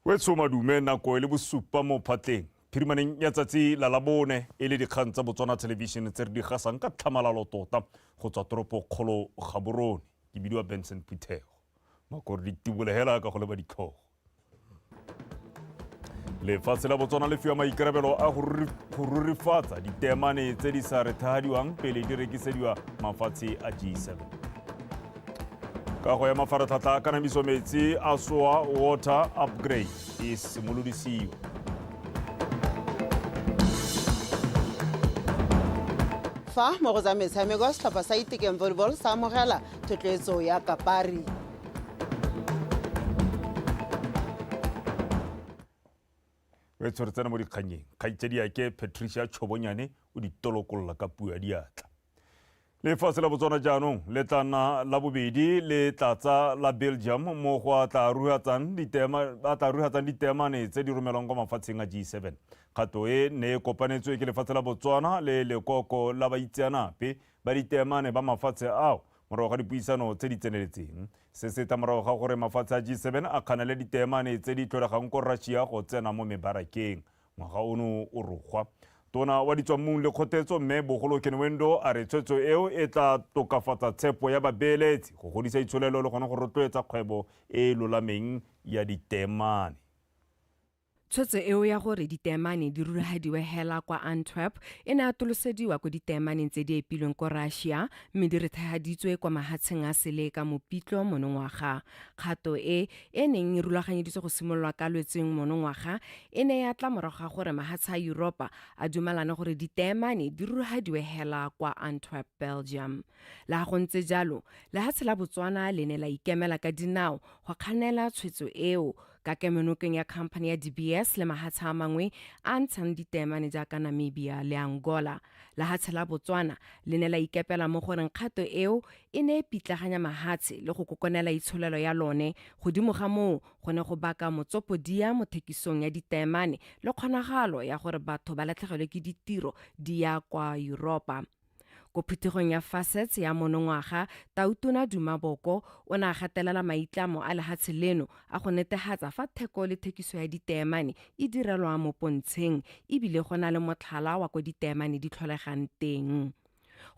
wetso madume nako e le bosupa mo phatleng phirimaneng ya tsatsi la labone e le dikgang tsa botswana television tse re di gasang ka tlhamalalo tota go tswa toropo kgolo gaborone ke bidiwa benson phuthego makore di tibolegela ka go leba ditlhogo lefatshe la botswana le fiwa maikarabelo a go rurifatsa ditemane tse di sa rethagadiwang pele di rekisediwa mafatshe a g7 kago ya mafaratlhatlha a kanamiso metsi a soa water upgrade e simolodisiwa fa mo go tsa metshameko setlhopha sa itekeng volleyball sa amogela thotloetso ya kapari re tshweretsena mo dikgannyeng kgaitsediake patricia tšhobonyane o ditolokolola ka puo ya diatla lefatshe la botswana jaanong le tla nna la bobedi le tlatsa la belgium mo go a tla rugatsang ditemane tse di romelwang kwa mafatsheng a g7 kgato e ne e kopanetswe ke lefatshe la botswana le lekoko la baitseanape ba ditemane ba mafatshe ao morago ga dipuisano tse di tseneletseng se se tla morago ga gore mafatshe a g7 a kganele ditemane tse di tlholegang ko russia go tsena mo mebarakeng Ngwaga ono o rogwa. Tona wa Ditswammung le Kgotetso Mme Bogolo Kenwendo a re tshwetso eo e tla tokafatsa tshepo ya babeeletsi, go godisa itsholelo le gone go rotloetsa kgwebo e e lolameng ya diteemane. Tshwetso eo ya gore diteemane di rulagadiwe hela kwa Antwerp e ne atolosediwa ko diteemaneng tse di epilweng ko Russia mme di rethegaditswe kwa mahatsheng a sele ka Mopitlo monongwaga. Kgato e, e neng e rulaganyeditswe go simololwa ka Lwetseng monongwaga, e ne ya tla morago ga gore mahatsha a Yuropa a dumalane gore diteemane di rurugadiwe hela kwa Antwerp, Belgium. Le ga go ntse jalo, lehatshe la Botswana le ne la ikemela ka dinao go kganela tshwetso eo ka kemonokeng ya khamphane ya DBS le mahatsha a mangwe a ntshang diteemane jaaka Namibia le Angola. Lehatshe la Botswana le ne la ikepela mo goreng kgato eo e ne e pitlaganya mahatshe le go kokonela itsholelo ya lone, godimo ga moo go ne go baka motsopodia mo thekisong ya ditaemane le kgonagalo ya gore batho ba latlhegelwe ke ditiro di ya kwa Yuropa. Ko phuthegong ya Facets ya monongwaga, Tautona Duma Boko o ne a gatelela maitlamo a lehatshe leno a go netehatsa fa theko le thekiso ya ditaemane e direlwa mo pontsheng e bile go na le motlhala wa ko ditaemane di tlholegang teng.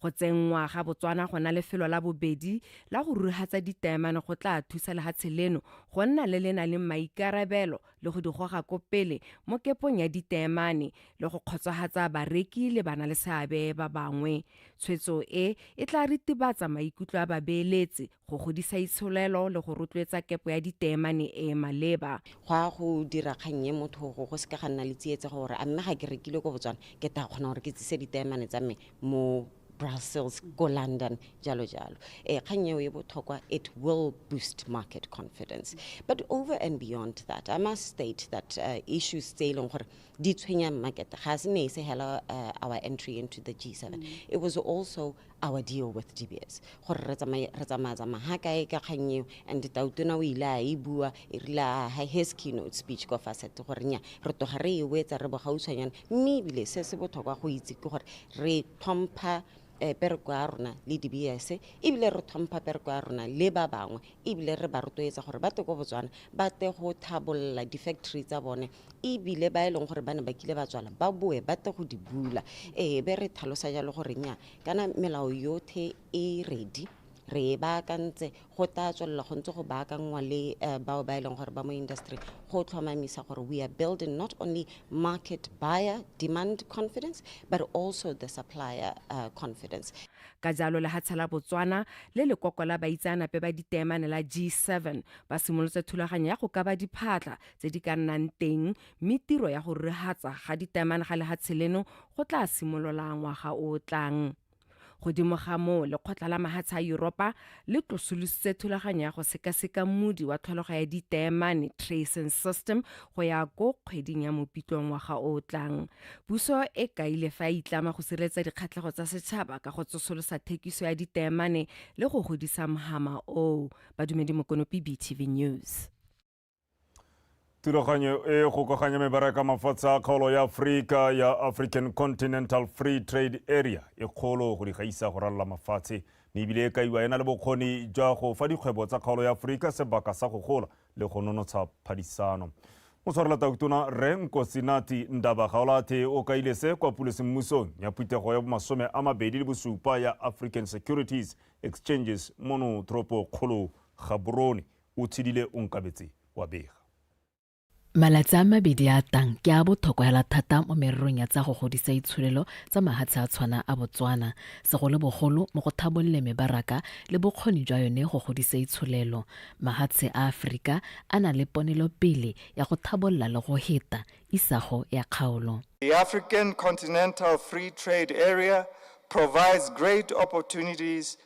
Go tsenngwa ga Botswana go na lefelo la bobedi la go ruruhatsa ditaemane go tla thusa lehatshe leno go nna le le nang le maikarabelo le go di goga ko pele mo kepong ya ditaemane le go kgotsohatsa bareki le bana le seabe ba bangwe. Tshwetso e e tla ritibatsa maikutlo a babeeletsi go godisa itsholelo le go rotloetsa kepo ya diteemane e e maleba go ya go dira kgang e motho go go seka ga nna le tsietse gore a mme ga ke rekile ko botswana ke ta kgona gore ke tsise diteemane tsa me mo brussels ko london jalo jalo e kgang eo e botlhokwa it will boost market confidence but over and beyond that i must state that uh, issues tse e leng gore di tshwenyang market ga se ne e se hela uh, our entry into the g7 mm. it was also our deal with DBS gore re tsamaye re tsamaya tsamaya ha kae ka kgang eo and tautona o ile a e bua e rile a ha his keynote speech ko facet gore nya re toga re e wetsa re bogautshwanyana mme ebile se se botlhokwa go itse ke gore re tlhompha eh, pereko ya rona le dbs ebile re tlhompha pereko ya rona le ba bangwe ebile re ba rotloetsa gore ba te ko botswana ba te go thabolola di-factory tsa bone ebile ba e leng gore ba ne ba kile ba tswala ba boe ba tle go di bula ee be re tlhalosa jalo gore nya kana melao yothe e ready re e baakantse go tla tswelela go ntse go baakangwa le uh, bao ba e leng gore ba mo industry go tlhomamisa gore we are building not only market buyer demand confidence but also the supplier uh, confidence ka jalo lehatsha la botswana le lekoko la baitseanape ba ditemane la g7 ba simolotse thulaganyo ya go kaba diphatla tse di ka nnang teng mme tiro ya go rehatsa ga ditaemane ga lehatshe leno go tla simolola ngwaga o o tlang godimo ga moo lekgotla la mahatshe a yuropa le tlosolositse thulaganyo ya go sekaseka mmudi wa tlholego ya ditaemane tracing system go ya ko kgweding ya mopitlo ngwaga o o tlang puso e kaile fa e itlama go sireletsa dikgatlhego tsa setšhaba ka go tsosolosa thekiso ya ditaemane le go godisa mhama oo badumedi mokonopi btv news thulaganyo e gokaganya mebaraka mafatshe a kgaolo ya aforika ya african continental free trade area e kgolo go di gaisa go ralola mafatshe mme ebile e kaiwa e na le bokgoni jwa go fa dikgwebo tsa kgaolo ya aforika sebaka sa go gola le go nonotsha phadisano motshwarela tautona re nkosinati ndaba gaolathe o kaile se kwa pulosemmusong ya phuthego ya bomasome a mabedi le bosupa ya african securities exchanges mono toropo kgolo gaborone O tshedile onkabetse wa bega. Malatsi a mabedi a a tang ke a bothokwa hela thata mo mererong ya tsa go godisa itsholelo tsa mahatshe a tshwana a Botswana, segolobogolo mo go thabolle mebaraka le bokgoni jwa yone go godisa itsholelo. Mahatshe a Afrika a na le ponelopele ya go thabolla le go heta isago ya kgaolo. The African Continental Free Trade Area provides great opportunities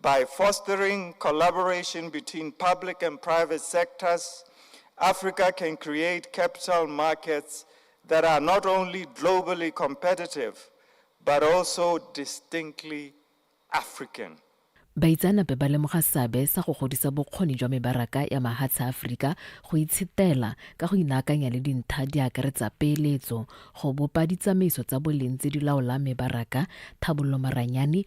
By fostering collaboration between public and private sectors, Africa can create capital markets that are not only globally competitive, but also distinctly African. Baitsanape ba lemoga seabe sa go godisa bokgoni jwa mebaraka ya mahatshe a Aforika go itshetela ka go inaakanya le dintha di akaretsa peeletso, go bopa ditsamaiso tsa boleng tse di laolang mebaraka, thabololo maranyane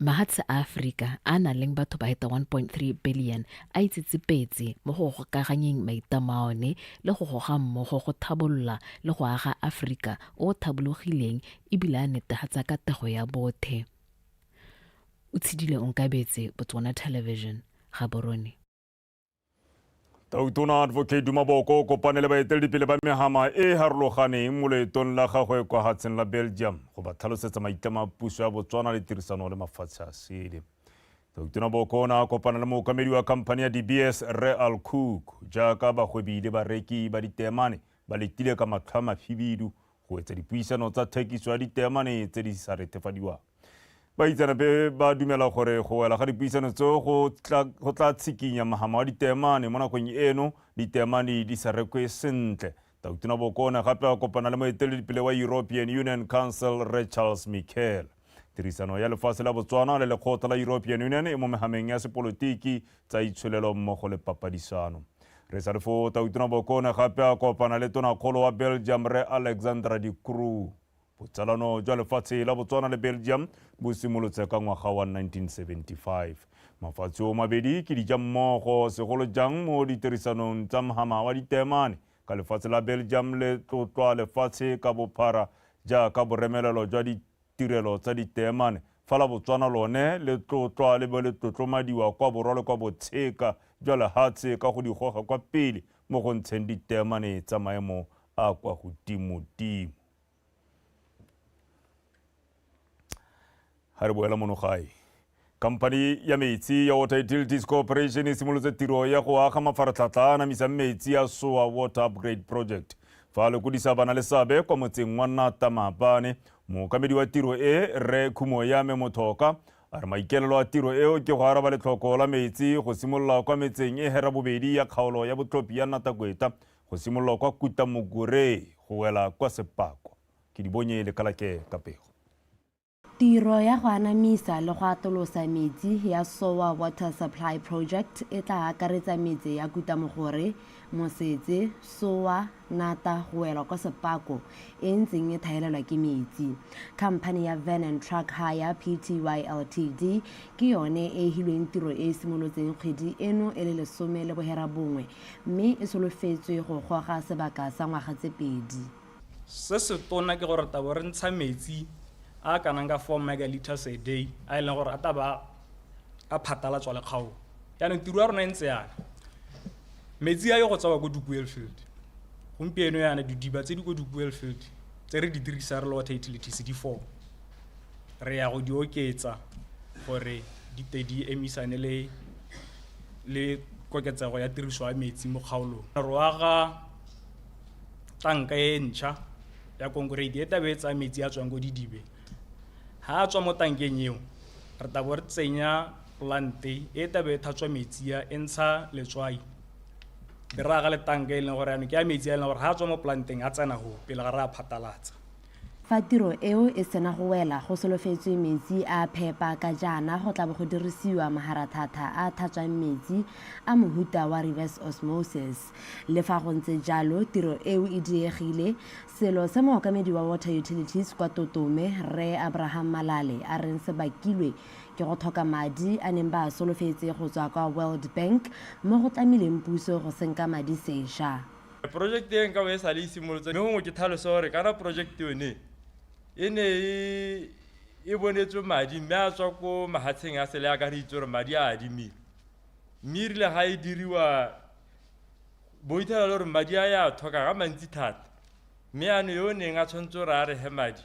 Mahatshe a Aforika a a nang le batho ba heta 1.3 bilione a itsetsepetse mo go gokaganyeng maitam a one le go goga mmogo go thabolola le go aga Aforika o o thabologileng e bile a netehatsa katego ya bothe. Utshidile Onkabetse, Botswana Television, Gaborone. Tautona Advocate Dumaboko o kopane le baeteledipele ba megama e e harologaneng mo loetong la gagwe kwa hatsheng la Belgium go ba tlhalosetsa maitlamo a puso ya Botswana le tirisano le mafatshe a sele. Tautona Boko o ne a kopana le mookamedi wa khamphani ya DBS Rre Al Cook jaaka bagwebi le bareki ba ditemane ba letile ka matlho a mafibidu go etsa dipuisano tsa thekiso ya diteemane tse di sa retefadiwang baitseanape ba dumela gore go wela ga dipuisano tseo go tla tshikinya mahama wa diteemane mo nakong eno diteemane di sa rekwe sentle tautona bokone gape a kopana le moeteledipele wa european union council re charles michael Tirisano ya lefatshe la Botswana le lekgotla la European Union e mo mehameng ya sepolotiki, tsa itsholelo mmogo le papadisano. Re sa le foo, Tautona Bokone gape a kopana le tonakgolo wa Belgium Rre Alexandra De Croo. Botsalano jwa lefatshe la Botswana le Belgium bo simolotse ka ngwaga wa 1975. Mafatshe o mabedi ke dijammogo, segolo jang mo ditirisanong tsa mhama wa diteemane Ka lefatshe la Belgium le tlotlwa lefatshe ka bophara jaaka boremelelo jwa ditirelo tsa diteemane, fa la Botswana lone le tlotlwa le bo le tlotlomadiwa kwa borwa le kwa botsheka jwa lehatshe ka go di goga kwa pele mo go ntsheng diteemane tsa maemo a kwa godimodimo. Ga re boela mono gae, khamphani ya metsi ya Water Utilities Corporation e simolotse tiro ya go aga mafaratlhatlha a anamisang metsi a Soa Water Upgrade Project fa le kodisa bana le sabe kwa motseng wa Nata Maabane. Mookamedi wa tiro e, Rre Khumo ya me Mothoka, a re maikelelo a tiro eo ke go araba letlhoko la metsi go simolola kwa metseng e hera bobedi ya kgaolo ya botlhophi ya Nata Kweta go simolola kwa Kuta Moguree go wela kwa Sepako. Ke di bonye lekalake ka pego. Tiro ya go anamisa le go atolosa metsi ya Sowa Water Supply Project e tla akaretsa metse ya Kutamogore, Mosetse, Sowa, Nata go wela kwa Sepako e ntseng e thaelelwa ke metsi. Khamphane ya Van and Truck Hire, Pty Ltd, ke yone e e hilweng tiro e e simolotseng kgwedi eno e le lesome le bohera bongwe mme e solofetswe go goga sebaka sa ngwaga tse pedi. Se se tona ke gore tabo re ntsha metsi a a kanang ka 4 megalitres a day a e leng gore a taba a phatalatswa le kgaolo yaanong tiro ya rona e ntse yana metsi a yo go tsawa ko dukuel field gompieno yana didiba tse di ko dukuel field tse re di dirisa re le water utilities di four re ya go di oketsa gore di te di emisane le le koketsego ya tiriso ya metsi mo kgaolong re aga tanka e ntšha ya konkoriti e tabe e tsaya metsi a tswang ko didibe ha a tswa mo tankeng eo re tabo re tsenya plante e tabe e thatswa metsi a e ntsha letswai be re aga le tanka e leng gore yanong ke ya metsi a e leng gore ha a tswa mo planteng a tsena go pele ga re a phatalatsa Fa tiro eo e sena go wela, go solofetswe metsi a a phepa ka jaana go tla bo go dirisiwa maharathata a a tlhatswang metsi a mohuta wa reverse osmosis. Le fa go ntse jalo, tiro eo e diegile, selo se mookamedi wa Water Utilities kwa Totome, Rre Abraham Malale a reng se bakilwe ke go tlhoka madi a neng ba a solofetse go tswa kwa World Bank mo go tlamileng puso go senka madi sešwa. Porojekte e nka bo e sa le e simolotse mme gongwe ke tlhalosa gore kana porojekte yone e ne e e bonetswe madi mme a tswa ko mahatsheng a sele a ka re itse gore madi a adimile mme e rile ga e diriwa bo ithala le gore madi a ya tlhoka ga mantsi thata mme ano yo o neng a tshwanetse gore a re he madi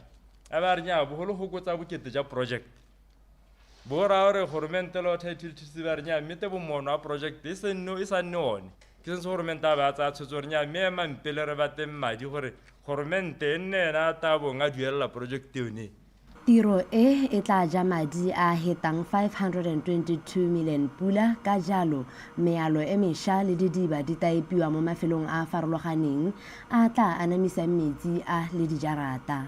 a ba re nyaa bogolo gokotsa bokete ja project bora gore goromente le otha ithilithisi ba re nya mme te bomono wa project e se nne e sa nne one ke sentse goromente a ba a tsaya tshwetso gore nya mme ema mpele re bateng madi gore goromente e nne ena a tabong a duelela project yone Tiro e e tla ja madi a hetang 522 million pula ka jalo mealo e mesha le didiba di taepiwa mo mafelong a a farologaneng a tla anamisang metsi a le dijarata.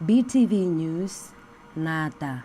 BTV News, Nata.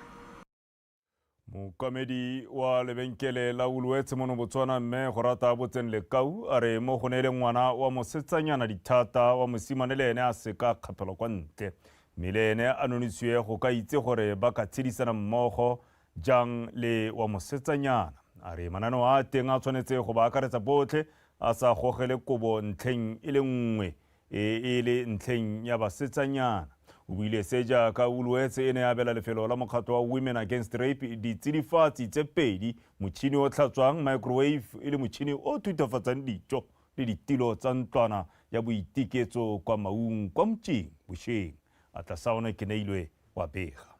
Mookamedi wa lebenkele la Woolworths mono Botswana mme go rata botseng lekau a re mo go neele ngwana wa mosetsanyana dithata wa mosimane le ene a seka kgapelwa kwa ntle mme le ene a nonisiwe go ka itse gore ba ka tshedisana mmogo jang le wa mosetsanyana a re mananeo a teng a tshwanetse go ba akaretsa botlhe a sa gogele kobo ntlheng e le nngwe e e le ntlheng ya basetsanyana. O buile se jaaka Woolworths e ne ya abela lefelo la mokgatlho wa Women Against Rape ditsidifatsi tse pedi, motšhini o tlhatswang, microwave, e le motšhini o thuthafatsang dijo le ditilo tsa ntlwana ya boiteketso kwa Maung kwa Mtšing bosheng. Atlasaone Keneilwe wa bega.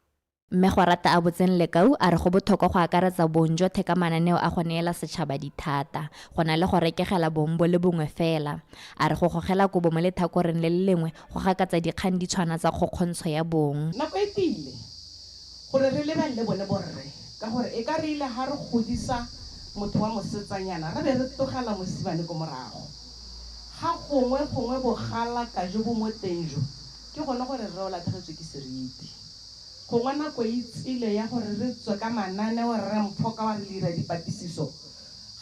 Mme Gwarata a botseng Lekau a re go bothokwa go akaretsa bong jwa theka mananeo a go neela setšhaba dithata, go na le go rekegela bong bo le bongwe fela. A re go gogela kobo mo lethakoreng le le lengwe go gakatsa dikgang di tshwana tsa kgokgontsho ya bong. Nako e tile gore re lebelele bone borre ka gore e ka re ile ga re godisa motho wa mosetsanyana re be re tlogela mosimane ko morago. Ga gongwe gongwe bogalaka jo bo mo teng jo ke gone gore rre o latlhegetswe ke seriti. Gongwe nako e tsile ya gore re tswe ka mananeo, Rre Mpho ka wa re le ira dipatisiso.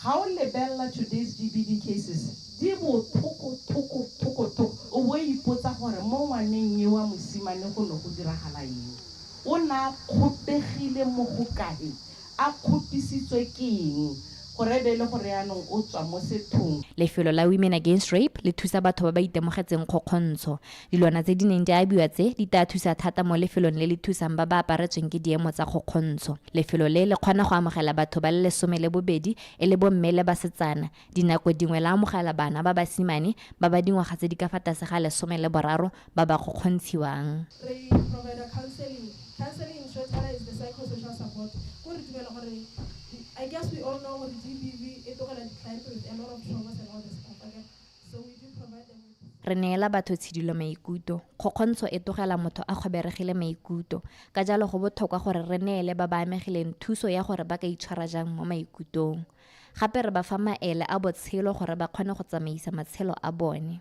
Ga o lebelela today's GBV cases, di bothoko thoko thoko thoko. O bo o ipotsa gore mo ngwaneng yo wa mosimane go ne go diragala eng? O ne a kgotegile mo go kae? A kgotisitswe ke eng gore e be e le gore yanong o tswa mo sethong? Lefelo la Women Against Rape le thusa batho ba ba itemogetseng kgokgontsho. Dilwana tse di neng di abiwa tse di taa thusa thata mo lefelong le le thusang ba ba aparetsweng ke diemo tsa kgokgontsho. Lefelo le le kgona go amogela batho ba le lesome le bobedi e le bomme le basetsana, dinako dingwe la amogela bana ba basimane ba ba dingwaga tse di ka fa tlase ga lesome le boraro ba ba kgokgontshiwang. Re provide-a counselling. Counselling in short fela is the psychosocial support. Ke gore re dumela gore, I guess we all know gore GBV e tlogela di-client with a lot of traumas and all the stuff, akere? Re neela batho tshidilo maikuto. Kgokgontsho e togela motho a kgoberegile maikuto. Ka jalo go bothokwa gore re neele ba ba amegileng thuso ya gore ba ka itshwara jang mo maikutong. Gape re ba fa maele a botshelo gore ba kgone go tsamaisa matshelo a bone.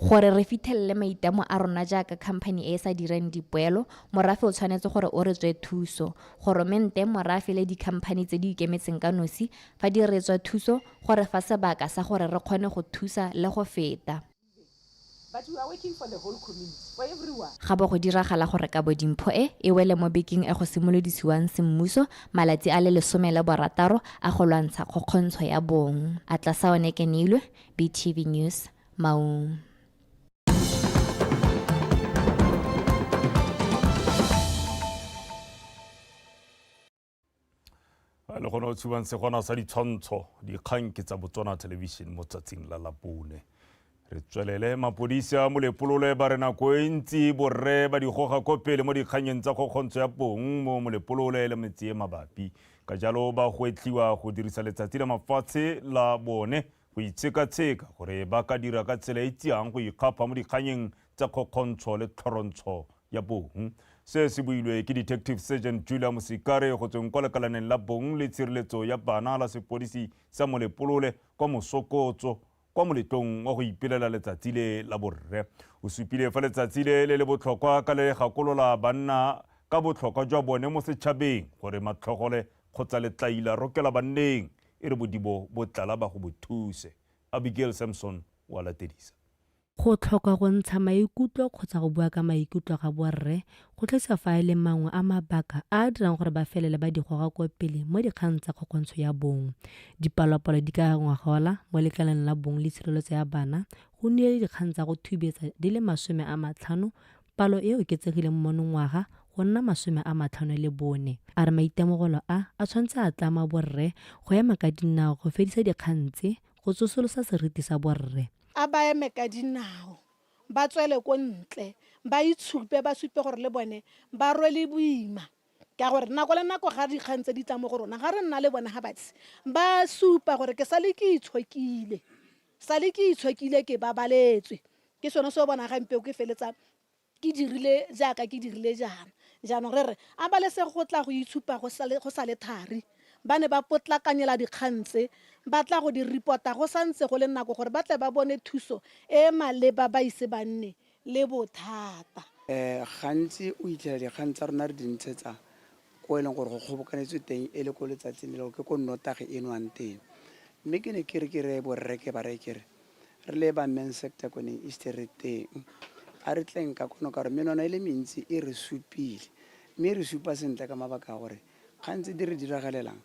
Gore re fithelele maitamo a rona jaaka khamphani e e sa direng dipoelo, morafe o tshwanetse gore o re tswe thuso. Goromente, morafe le dikhamphani tse di ikemetseng ka nosi, fa di re tswa thuso, go re fa sebaka sa gore re kgone go thusa le go feta. Ga bo go diragala gore kabo dimpho e, e wele mo bekeng e go simolodisiwang semmuso malatsi a le lesome le borataro a go lwantsha kgokgontsho ya bong. Atlasaone Kenilwe, BTV News. le gone o tshubang segwana sa ditshwantsho dikgang ke tsa botswana television mo tsatsing la lapone re tswelele mapodisi a molepolole ba re nako e ntsi borre ba digoga ko pele mo dikganyeng tsa kgokgontsho ya pong mo molepolole le metse e mabapi ka jalo ba gwetlhiwa go dirisa letsatsi la mafatshe la bone go itshekatsheka gore ba ka dira ka tsela e tsiang go ikgapha mo dikganyeng tsa kgokgontsho le tlhorontsho ya bong. Se se builwe ke Detective Sergeant Julia Mosikare go tsweng kwa lekalaneng la bong le tshireletso ya bana la sepodisi sa Molepolole kwa Mosokotso kwa moletlong wa go ipelela letsatsi le la borre. O supile fa letsatsi le le le botlhokwa ka le gakolola banna ka botlhokwa jwa bone mo setšhabeng gore matlhogole kgotsa letlaila rokela banneng e re bodibo bo tlala ba go bo thuse. Abigail Samson o a latedisa. Go tlhoka go ntsha maikutlo kgotsa go bua ka maikutlo ga borre go tlisa fa e le mangwe a mabaka a a dirang gore ba felele ba di goga kwa pele mo dikgang tsa kgokgontsho ya bong. Dipalopalo di ka re ngwagola mo lekaleng la bong le tshireletso ya bana go nnile le dikgang tsa go thubetsa di le masome a matlhano Palo e oketsegile mo monongwaga go nna masome a matlhano le bone. A re maitemogolo a a tshwanetse a tlama borre go ema ka dinao go fedisa dikgang tse go tsosolosa seriti sa borre. A ba eme ka dinao, ba tswele ko ntle, ba itshupe, ba supe gore le bone ba rwele boima ka gore nako le nako ga dikgang tse di tla mo go rona ga re nna le bone ga batsi ba supa gore ke sale ke itshokile. Sale ke itshokile ke babaletswe. Ke sone se o bonang ga mpeo ke feletsa ke dirile jaaka ke dirile jaana. Jaanong re re, a balesego go tla go itshupa go sa le, go sa le thari. Ba ne ba potlakanyela dikgang tse, ba tla go di repota go sa ntse go le nako gore ba tle ba bone thuso e e maleba ba ise ba nne le bothata. Gantsi o itlhela dikgang tsa rona re di ntshetsa ko e leng gore go kgobokanetswe teng e le ko letsatsing le lego ke ko nnotagi e nwang teng. Mme ke ne ke re ke reye borre ke ba reye ke re re le ba Men's Sector ko neng East re teng a re tleng ka kwano ka gore menwana e le mentsi e re supile mme e re supa sentle ka mabaka a gore kgang tse di re diragalelang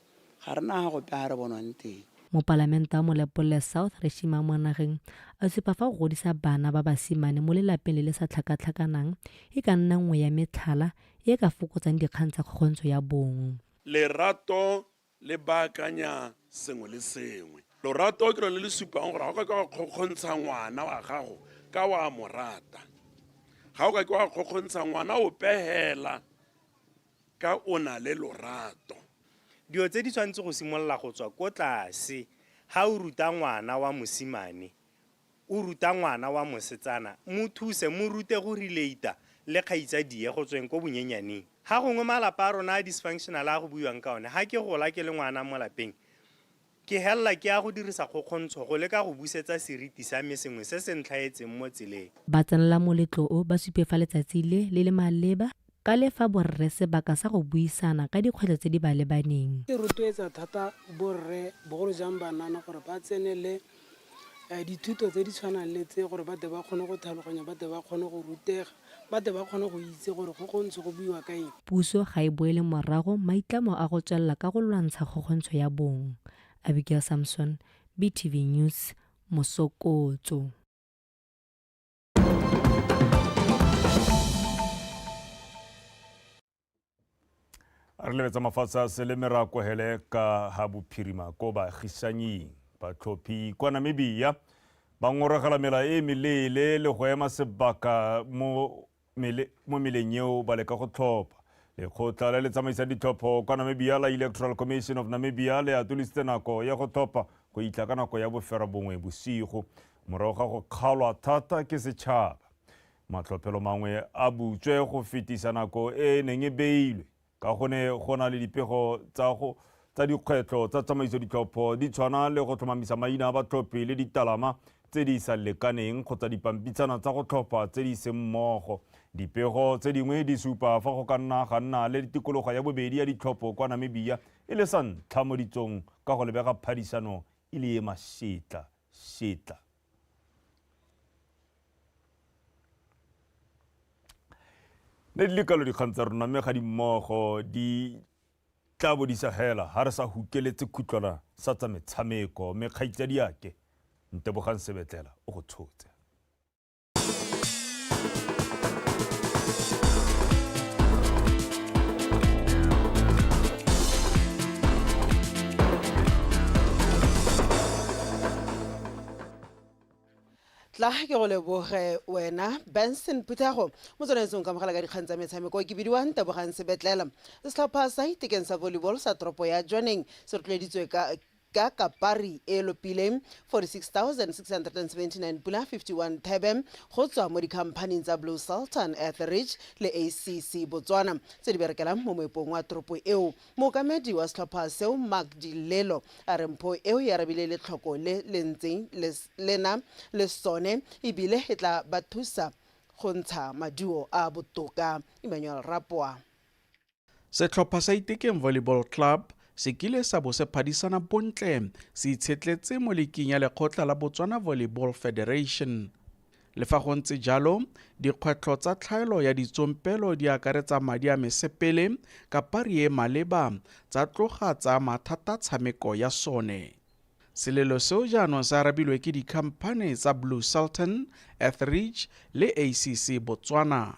Ga re na gope ga re bonwang teng. Mopalamente wa Molepolole South Reshima Mwanageng a supa fa go godisa bana ba basimane mo lelapeng le le sa tlhakatlhakanang e ka nna nngwe ya metlhala e e ka fokotsang dikgang tsa kgokgontsho ya bong. Lerato le baakanya sengwe le sengwe. Lorato ke lone le le supang gore ga o ka ke wa kgokgontsha ngwana wa gago ka wa mo rata. Ga o ka ke wa kgokgontsha ngwana ope hela Ka o na le lorato. Dilo tse di tshwanetse go simolola go tswa ko tlase. Ga o ruta ngwana wa mosimane, o ruta ngwana wa mosetsana, mo thuse, mo rute go relate-a le kgaitsadie go tsweng ko bonyenyaneng. Ga gongwe malapa a rona a dysfunctional a go buiwang ka one, ga ke gola ke le ngwana mo lapeng, Ke helela ke ya go dirisa kgokgontsho go leka go busetsa seriti sa me sengwe se se ntlhaetseng mo tseleng. Ba tsenela moletlo o ba supe fa letsatsi le le le maleba ka le fa borre sebaka sa go buisana ka dikgwetlho tse di ba lebaneng. E rotloetsa thata borre bogolo jang banana gore ba tsenele dithuto tse di tshwanang le tse gore ba tle ba kgone go tlhaloganya, ba tle ba kgone go rutega. ba tle ba kgone go itse gore go go ntse go buiwa ka eng. Puso ga e boele morago maitlamo a go tswelela ka go lwantsha kgokgontsho ya bong. Abigail Samson, BTV News, Mosokotso. re lebetsa mafatshe a sele me ra kohele ka ga bophirima ko baagisanying batlhophi kwa namibia ba ngorogela mela e meleele le go ema sebaka mo meleng eo ba leka go tlhopha lekgotla le le tsamaisang ditlhopho kwa namibia la electoral commission of namibia le atolositse nako ya go tlhopha go itla ka nako ya bofera bongwe bosigo morago ga go kgaolwa thata ke setšhaba Matlhophelo mangwe a butswe go fetisa nako e e neng e beilwe ka go ne go na le dipego tsa go tsa dikgwetlho tsa tsamaiso ditlhopho di tshwana le go tlhomamisa maina a batlhophi le ditalama tse di sa lekaneng kgotsa dipampitshana tsa go tlhopha tse di seng mmogo. Dipego tse dingwe di supa fa go ka nna ga nna le tikologo ya bobedi ya ditlhopho kwa Namibia e le sa ntlha mo ditsong ka go lebega phadisano e le e masetla setla. ne di le kalo dikgang tsa rona mme ga di mmogo di tla bo di sa hela ga re sa hukeletse khutlwana sa tsa metshameko mme kgaitsadi ake ntebogang sebetlela o go tshotse tla ke go leboge wena benson puthago mo tswanetseng ka mogala ka dikgang tsa metshameko ke bidiwang tebogang sebetlela setlhopha sa itekeng sa volleyball sa toropo ya joneng se rotloeditswe ka ka kapari e lopileng 46679 pula 51 thebe go tswa mo dikhamphaning tsa blue sultan etheridge le acc botswana tse di berekelang mo moepong wa toropo eo Mookamedi wa setlhopha seo Mark Di Lelo a re mpho eo e arabile letlhoko le le ntseng le le na le sone e bile e tla ba thusa go ntsha maduo a a botoka. Emmanuel Rapwa. Setlhopha sa Itekeng Volleyball Club se kile sa bo se phadisana bontle se itshetletse mo liking ya lekgotla la Botswana Volleyball Federation. Le fa go ntse jalo, dikgwetlho tsa tlhaelo ya ditsompelo di akaretsa madi a mesepele, kapari e maleba, tsa tloga tsa ama thata tshameko ya sone. Selelo seo jaanong se arabilwe ke dikhamphane tsa Blue Sultan, Etheridge le ACC Botswana.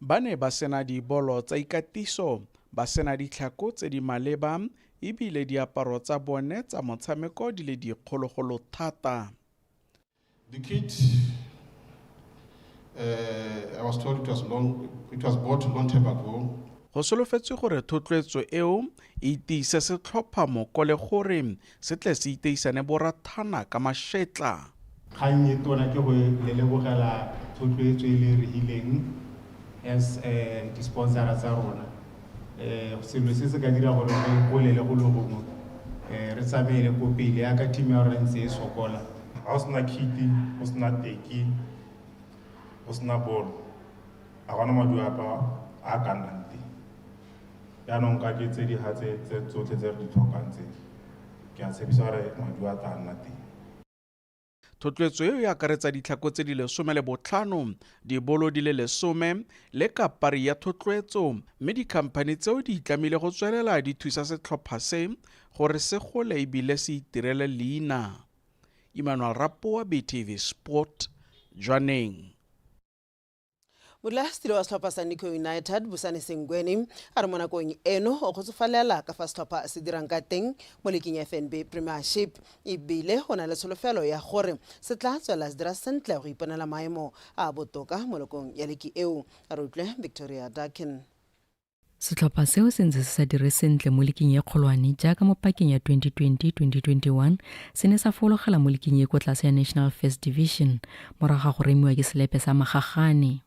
Ba ne ba sena dibolo tsa ikatiso, ba sena ditlhako tse di maleba e bile diaparo tsa bone tsa motshameko di le dikgologolo thata. The kit, uh, I was told it was long, it was bought long time ago. Go solofetswe gore thotloetso eo e tiise setlhopha moko le gore Se tle se iteisane borathana ka mašetla. Kgang e tona ke go le lebogela thotloetso e le e re hileng as di-sponsor-a tsa rona. Selo se se ka dira gore re golele go le gongwe, re tsamaele ko pele yaka team ya rona ntse e sokola. Ga go sena kite, go sena teki, go sena bolo, ga gona maduapa a ka nnang teng. Jaanong ka ke tse di ga tse tsotlhe tse re di tlhokang tse, ke a tshepisa gore maduo a tla nna teng. Thotloetso eo e akaretsa ditlhako tse di lesome le botlhano, dibolo di le lesome, le kapari ya thotloetso mme dikhamphani tseo di itlamile go tswelela di thusa setlhopha se gore se gole e bile se itirele leina. Emmanuel Rapoa, BTV Sport, Jwaneng. modulasetilo wa setlhopha sa nico united bosane sengweni a re mo nakong eno o kgotsofalela ka fa setlhopha se dirang ka teng mo leking fnb premiership ebile o na le tsholofelo ya gore se tla tswelela se dira sentle go iponela maemo a botoka mo lokong ya leki eo a re utlwe victoria duckin Setlhopha seo se ntse se sa dire sentle mo liking e kgolwane jaaka mo pakeng ya 2020-2021 se ne sa fologela mo liking e ko tlase ya National First Division morago ga go remiwa ke selepe sa Magagane.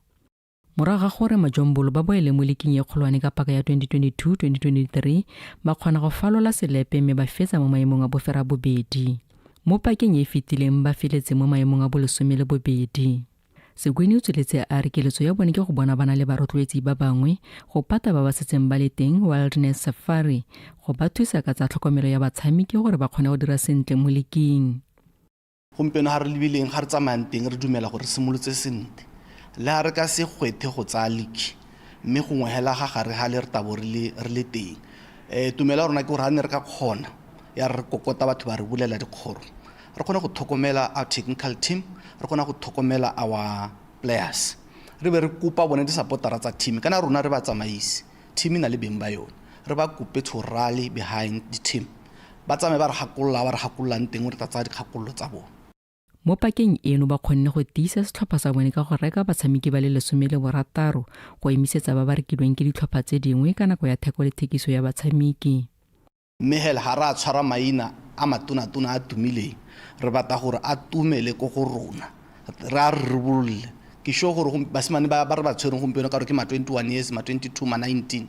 Morago ga gore Majombolo ba boele mo liking e kgolwane ka paka ya 2022-2023 ba kgona go falola selepe mme ba fetsa mo maemong a bofera bobedi. Mo pakeng e e fetileng ba feletse mo maemong a bolesome le bobedi. Segwini o tsweletse a re keletso ya bone ke go bona bana le barotloetsi ba bangwe go pata ba ba setseng ba le teng Wilderness Safari go ba thusa ka tsa tlhokomelo ya batshamiki gore ba kgone go dira sentle mo liking. Gompieno ga re lebileng ga re tsamayang teng re dumela gore re simolotse sentle le ga re ka se gwethe go tsaya liki mme gongwe hela ga gare ga le re tabo re le teng. Tumelo ya rona ke gore ga ne re ka kgona ya re kokota batho ba re bulela dikgoro Re kgona go tlhokomela our technical team, re kgona go tlhokomela our players. Re be re kopa bone disapotara tsa team, kana rona re batsamaisi, team e na le beng ba yone. Re ba kope to rally behind the team, ba tsamaye ba re gakolola ba re gakololang teng re tla tsaya dikgakololo tsa bone. Mo pakeng eno ba kgonne go tiisa setlhopha sa bone ka go reka batshameki ba le lesome le borataro go emisetsa ba ba rekilweng ke ditlhopha tse dingwe ka nako ya theko le thekiso ya batshameki. Mme hela ha ra tshwara maina a matonatona a tumileng, re batla gore a tumele ko go rona, re a ribololle. Ke sure gore basimane ba re ba tshwereng gompieno ka gore ke ma twenty one years, ma twenty two, ma nineteen,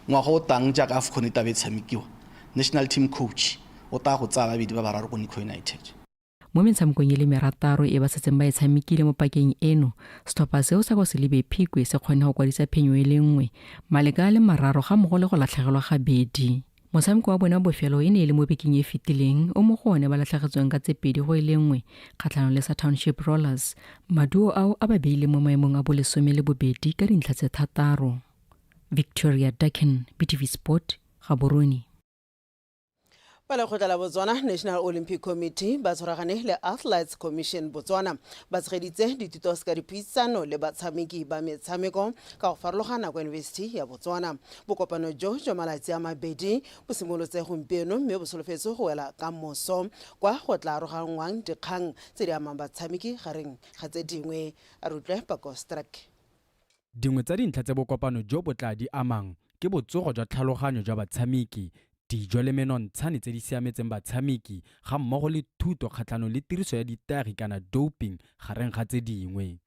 ngwaga o tlang jaaka Afcon e tlabe e tshamekiwa, national team coach o tla go tsaya babedi ba bararo ko Nico United. mo metshamekong e le merataro e ba setseng ba e tshamekile mo pakeng eno setlhopha seo sa kwa selebe phikwe se kgone go kwadisa phenyo e le nngwe maleka a le mararo ga mogo le go latlhegelwa gabedi motshameko wa bone wa bofelo e ne e le mo bekeng e fetileng o mo go one ba latlhegetsweng ka tse pedi go e le nngwe kgatlhanong le sa township rollers maduo ao a ba beile mo maemong a bolesome le bobedi ka dintlha tse thataro victoria duckin btv sport gaborone ba lekgotla la botswana national olympic committee ba tshwaragane le athletes commission botswana ba tshegeditse dithuto se ka dipuisano le batshameki ba metshameko ka go farologana kwa yunibesithi ya botswana bokopano jo jwa malatsi a mabedi bo simolotse gompieno mme bo solofetse go wela ka moso kwa go tla aroganngwang dikgang tse di amang batshameki gareng ga tse dingwe a re utlwe pakostrak Dingwe tsa dintlha tse bokopano jo bo tla di amang ke botsogo jwa tlhaloganyo jwa batshameki, dijo le menontshane tse di siametseng batshameki ga mmogo le thuto kgatlhanong le tiriso ya ditagi kana doping gareng ga tse dingwe.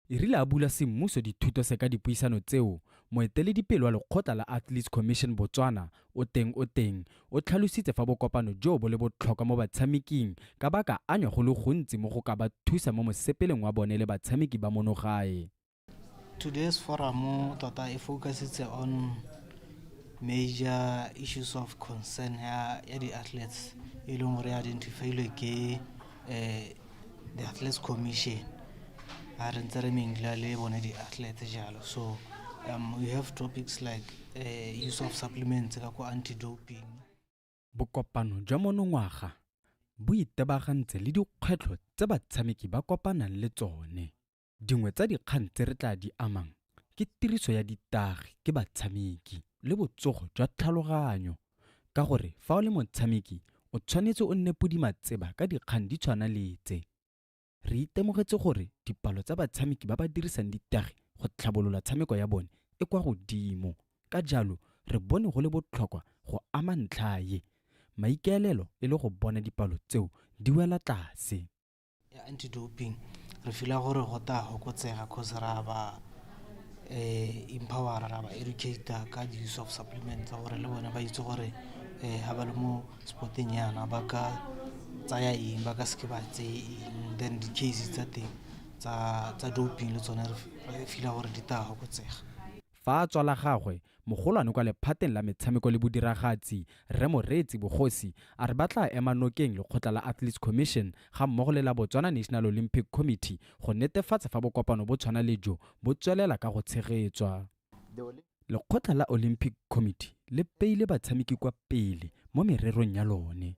E rile a bula semmuso dithuto se ka dipuisano tseo, moeteledipele wa lekgotla la Athletes Commission Botswana, Oteng Oteng, o tlhalositse fa bokopano joo bo le botlhokwa mo batshameking ka ba ka anywa go le gontsi mo go ka ba thusa mo mosepeleng wa bone le batshameki ba mono gae. Today's forum tota e focusitse on major issues of concern ya ya di athletes e leng gore identifiilwe ke eh, the athletes commission a re ntse re mengla le bone di athletes jalo so um, we have topics like eh, use of supplements ka ko anti-doping bokopano jwa monongwaga bo itebagantse le dikgwetlho tse batshameki ba kopanang le tsone Dingwe tsa dikgang tse re tla di amang ke tiriso ya ditagi ke batshameki le botsogo jwa tlhaloganyo ka gore fa o le motshameki o tshwanetse o nne podima tseba ka dikgang di tshwana le tse. Re itemogetse gore dipalo tsa batshameki ba ba dirisang ditagi go tlhabolola tshameko ya bone e kwa godimo ka jalo re bone go le botlhokwa go ama ntlha ye, maikaelelo e le go bona dipalo tseo di wela tlase. ya anti-doping re fila gore go ta fokotsega cause ra ba um empowera ra ba educator ka di-use of supplement tsa gore le bone ba itse gore um ga ba le mo sporteng yana ba ka tsaya eng ba ka seke ba tseye eng then di-case tsa teng tsa doping le tsone re fila gore di ta fokotsega fa tswala gagwe Mogolwane kwa lephateng la metshameko le bodiragatsi, Rre Moreetsi Bogosi, a re ba tla ema nokeng lekgotla la Athletes Commission ga mmogo le la Botswana National Olympic Committee go netefatsa fa bokopano bo tshwana le jo bo tswelela ka go tshegetswa. Lekgotla la Olympic Committee le beile batshameki kwa pele mo mererong ya lone.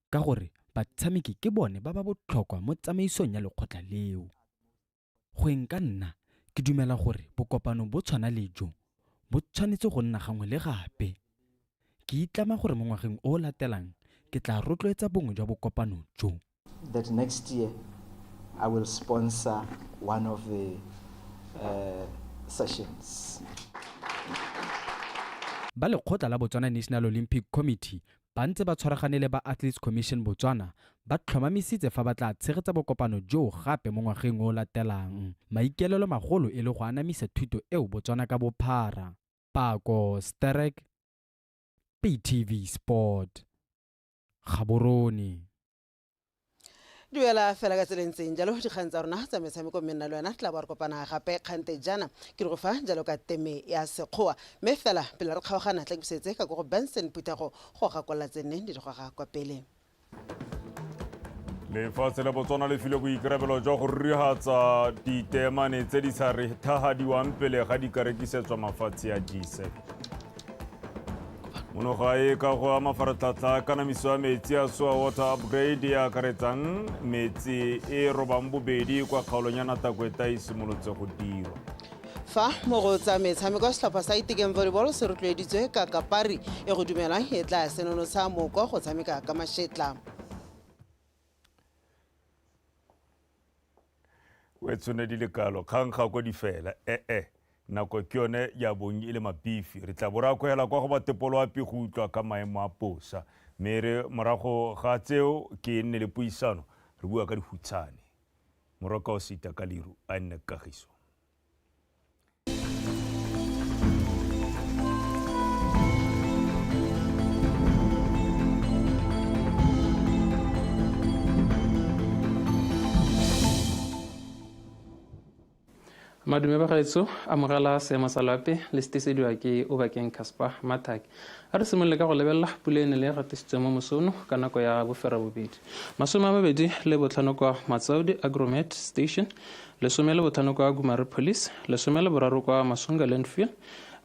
ka gore batshameki ke bone ba ba botlhokwa mo tsamaisong ya lekgotla leo go eng ka nna ke dumela gore bokopano bo tshwana le jo bo tshwanetse go nna gangwe le gape ke itlama gore mo ngwageng o o latelang ke tla rotloetsa bongwe jwa bokopano jo that next year i will sponsor one of the uh, sessions ba lekgotla la botswana national olympic committee ba ntse ba tshwaragane le ba Athletes Commission Botswana, ba tlhomamisitse fa ba tla tshegetsa bokopano joo gape mo ngwageng o o latelang, maikaelelo magolo e le go anamisa thuto eo Botswana ka bophara. Pako, Sterek, PayTv Sport, Gaborone. duela fela ka tseleng tseng jalo dikgang tsa rona tsa metshameko mme nna le wena tla bo re kopana gape kgante jana ke re go fa jalo ka teme ya sekgowa mme fela pele re kgaogana tla kebusetse ka ko go benson phuthego go gakolela tse nneng di di goga kwa pele lefatshe la botswana le file boikarabelo jwa go rurigatsa diteemane tse di sa re thagadiwang pele ga di ka rekisetswa mafatshe a gisep mono gae ka go a mafaratlhatlha kanamiso ya metsi ya soa water upgrade e akaretsang metsi e robang bobedi kwa kgaolong ya natakweta e simolotse go dirwa fa mo go tsa metshameko setlhopha sa itekeng volleyball se rotloeditswe ka kapari e go dumelwang e tla senonotsha moko go tshameka ka mashetla o e tshone di le kalo kgang ga ko di fela ee nako ke yone ya bong e le mapifi re tla bo re akwela kwa go batepolo ape go utlwa ka maemo a posa mme re morago ga tseo ke nne le puisano re bua ka dihutshane moroka o sita ka liru a nne kagiso madume ba gaetso amogela seemo sa loape le setesediwa ke obakeng casper mathak a re simolole ka go lebelela pula e ne le e gatisitswe mo mosono ka nako ya bofera bobedi masome a mabedi le botlhano kwa matsaudi agromet station lesome le botlhano kwa Gumare Police, lesome le boraro kwa Masunga Landfill,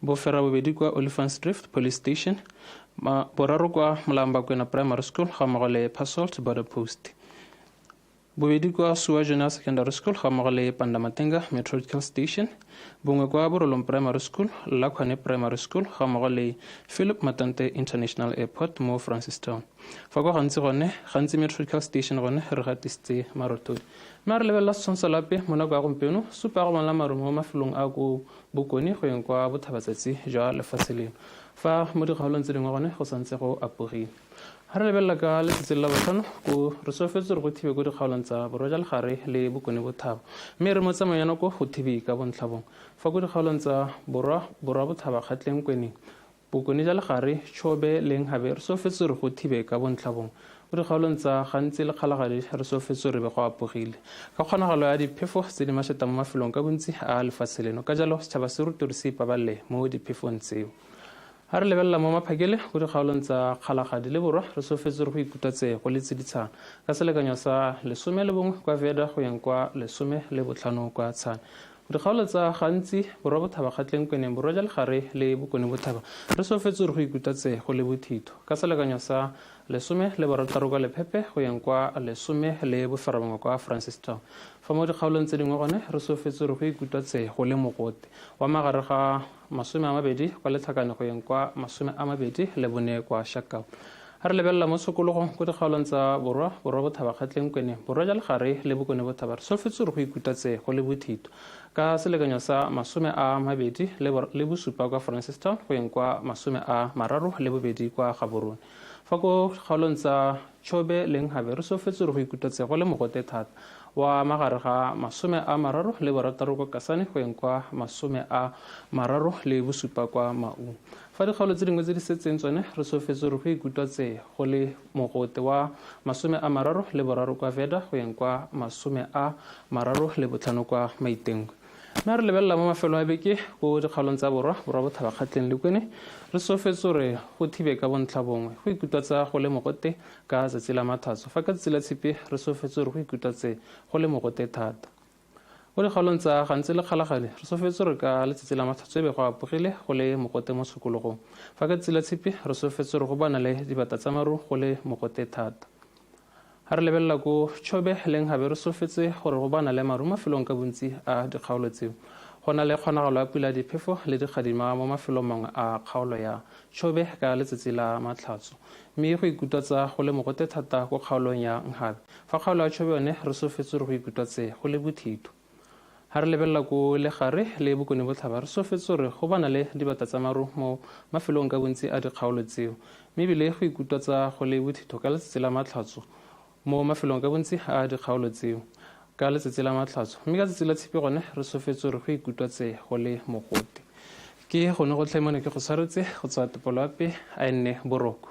bofera bobedi kwa Olifantsdrift Police Station, ma boraro kwa Molambakwena Primary School ga mmogo le Pasalt Border Post, bobedi kwa Suwa General Secondary School ga mmogo le Pandamatenga Meteorological Station, bongwe kwa Borolong Primary School, Lakhwane Primary School ga mmogo le Philip Matante International Airport mo Francistown. fa kwa gantsi gone gantsi metrical station gone re gatisitse marotoi mme a re lebelela setshwantsho lape mo nako ya gompieno supa ya go bonala marumo mo mafelong a ko bokone go yeng kwa bothabatsatsi jwa lefatshe leno fa mo dikgaolong tse dingwe gone go santse go apogile ga re lebelela ka letsatsi la botlhano ko re solofetse gore go thibe ko dikgaolong tsa borwa ja legare le bokone bothaba mme re mo tsamayo ya nako go thibe ka bontlhabong fa ko dikgaolong tsa borwa borwa bothaba kgatleng kweneng Bokone ja Legare, Chobe, leng Habe, re sofetswe re go thibe ka bontlhabong. Mo dikgaolong tsa gantsi le Kgalagadi re sofetswe re be go apogile. Ka kgonagalo ya diphefo tse di masheta mo mafelong ka bontsi a lefatshe leno, ka jalo setšhaba se rutwe re se ipabalele mo diphefong tseo. Ha re lebelela mo maphakele mo dikgaolong tsa Kgalagadi le Borwa, re sofetswe re go ikutlwa tse go le tsiditshana, ka selekanyo sa lesome le bongwe kwa Veda go yeng kwa lesome le botlhano kwa Tshane. Dikgaolo tsa gantsi, Borwa Bothaba Kgatleng Kweneng, Borwa ja Legare le Bokone Bothaba, re solofetse gore go ikuta tse go le bothitho. Ka selekanyo sa lesome le barataro kwa Lephepe go yeng kwa lesome le boferabongwe kwa Francistown. Fa mo dikgaolong tse dingwe gone re solofetse gore go ikutwa tse go le mogote wa magare ga masome a mabedi kwa letlhakanegweng kwa masome a mabedi le bone kwa shakau a re lebelela mo tshokologong ko dikgaolong tsa borwa borwa bothabakgatleng kwene borwa ja legare le bokone bothaba re solofetse gore go ikutatse go le bothito ka selekanyo sa masome a mabedi le bosupa kwa francistown go yeng kwa masome a mararo le bobedi kwa gaborone fa ko kgaolong tsa Chobe le Nhabe re sofetswe re go ikutetse go le mogote thata wa magare ga masome a mararo le borataro kwa Kasane go eng kwa masome a mararo le bosupa kwa Maung. Fa dikgaolo tse dingwe tse di setseng tsone re sofetswe re go ikutwatse go le mogote wa masome a mararo le boraro kwa Veda go eng kwa masome a mararo le botlhano kwa Maitengwe. Mme re lebelela mo mafelo a beke ko dikgaolong tsa borwa, borwa bothabakgatleng le kwene, re sofetse gore go thibe ka bontlha bongwe. Go ikutwatsa go le mogote ka tsatsi la mathatso, fa ka tsatsi la tshipi re sofetse gore go ikutwatse go le mogote thata. Mo dikgaolong tsa gantsi le kgalagadi, re sofetse gore ka letsatsi la mathatso ebe go apogile go le mogote mo tshokologong. Fa ka tsatsi la tshipi re sofetse gore go bana le dibata tsa maru go le mogote thata. Ha re lebelela ko Chobe leng gabe re sofetse gore go bana le maru mafelong ka bontsi a dikgaolo tseo. Go na le kgonagalo ya pula diphefo le dikgadima mo mafelong mangwe a kgaolo ya Chobe ka letsatsi la Matlhatso. Mme go ikutwatsa go le mogote thata ko kgaolong ya Nghabe. Fa kgaolo ya Chobe yone re sofetse gore go ikutwatse go le bothito. Ha re lebelela ko legare le bokone botlhaba, re sofetse gore go bana le dibata tsa maru mo mafelong ka bontsi a dikgaolo tseo, mme ebile go ikutwatsa go le bothitho ka letsatsi la Matlhatso mo mafelong ka bontsi a dikgaolo tseo ka letsatsi la Matlhatso, mme ka tsatsi la Tshipi gone re sofetse gore go ikutwatse go le mogote. Ke gone gotlhe mo ne ke go tshwaretse go tswa Topoloape a enne boroko.